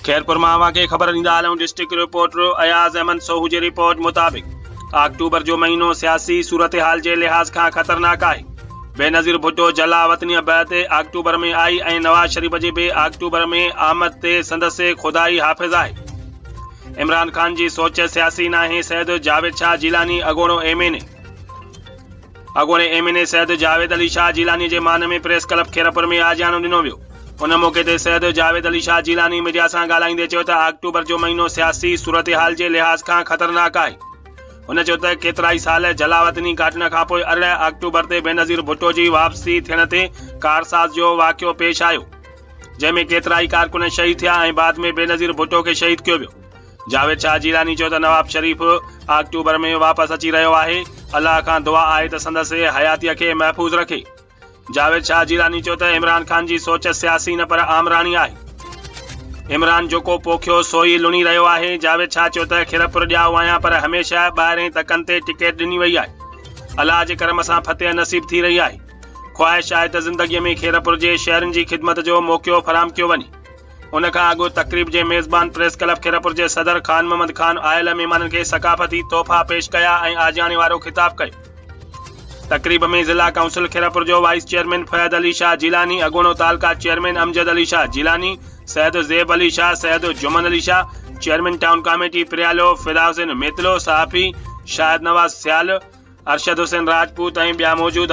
خيرپور مان اوهان کي خبر ڏيندا هلون ڊسٽرڪٽ رپورٽر اياز احمد سوهو جي رپورٽ مطابق آڪٽوبر جو مهينو سياسي صورتحال جي لحاظ کان خطرناڪ آهي بينظير ڀٽو جلا وطنيء بعد آڪٽوبر ۾ آئي ۽ نواز شريف جي به آڪٽوبر ۾ آمد تي سندس خدائي حافظ آهي عمران خان جي سوچ سياسي ناهي سيد جاويد شاهه جيلاني اڳوڻو ايم اين اي اڳوڻي M N A Syed Javed Ali Shah Jilani جي مان ۾ پريس ڪلب خيرپور ۾ آجياڻو ڏنو ويو. ان موقعي تي سيد جاويد علي شاهه جيلاني ميڊيا سان ڳالهائيندي چيو ته آڪٽوبر جو مهينو سياسي صورتحال جي لحاظ کان خطرناڪ آهي. هن چيو ته ڪيترائي سال جلاوطني ڪاٽڻ کانپوء ارڙهن آڪٽوبر تي بينظير ڀٽو جي واپسي ٿيڻ تي ڪارساز جو واقعو پيش آيو جنهن ۾ ڪيترائي ڪارڪن شهيد ٿيا ۽ بعد ۾ بينظير ڀٽو کي شهيد ڪيو ويو. جاويد شاهه جيلاني چيو ته نواب شريف آڪٽوبر ۾ واپس اچي رهيو آهي، الله کان دعا آهي ته سندس حياتيء کي محفوظ رکي. جاويد شاهه جيلاني چيو ته عمران خان جي سوچ سياسي نه پر آمراڻي آهي، عمران جوڪو پوکيو سوئي لڻي رهيو آهي، جاويد شاهه چيو ته خيرپور ڄائو آهيان پر هميشه ٻاهرين تڪن تي ٽڪيٽ ڏني وئي آهي، الله جي ڪرم سان فتح نصيب ٿي رهي آهي، خواهش آهي ته زندگيء ۾ خيرپور جي شهرين جي خدمت جو موقعو فراهم ڪيو وڃي. ان کان اڳ تقريب جي ميزبان پريس ڪلب خيرپور جي صدر خان محمد خان آيل مھمانن کي ثقافتي تحفا پيش ڪيا ۽ آجياڻي وارو خطاب ڪيو تقريب ۾ ضلع ڪائونسل خيرپور جو وائيس چيئرمين فياض علي شاھ جيلاني اڳوڻو تعلقه chairman Amjad Ali Shah Jilani Syed Zeb Ali Shah Syed Juman Ali Shah chairman town committee Pryalo Fida Hussain Mitlo صحافي شاهد نواز سيال ارشد حسين راجپوت ۽ ٻيا موجود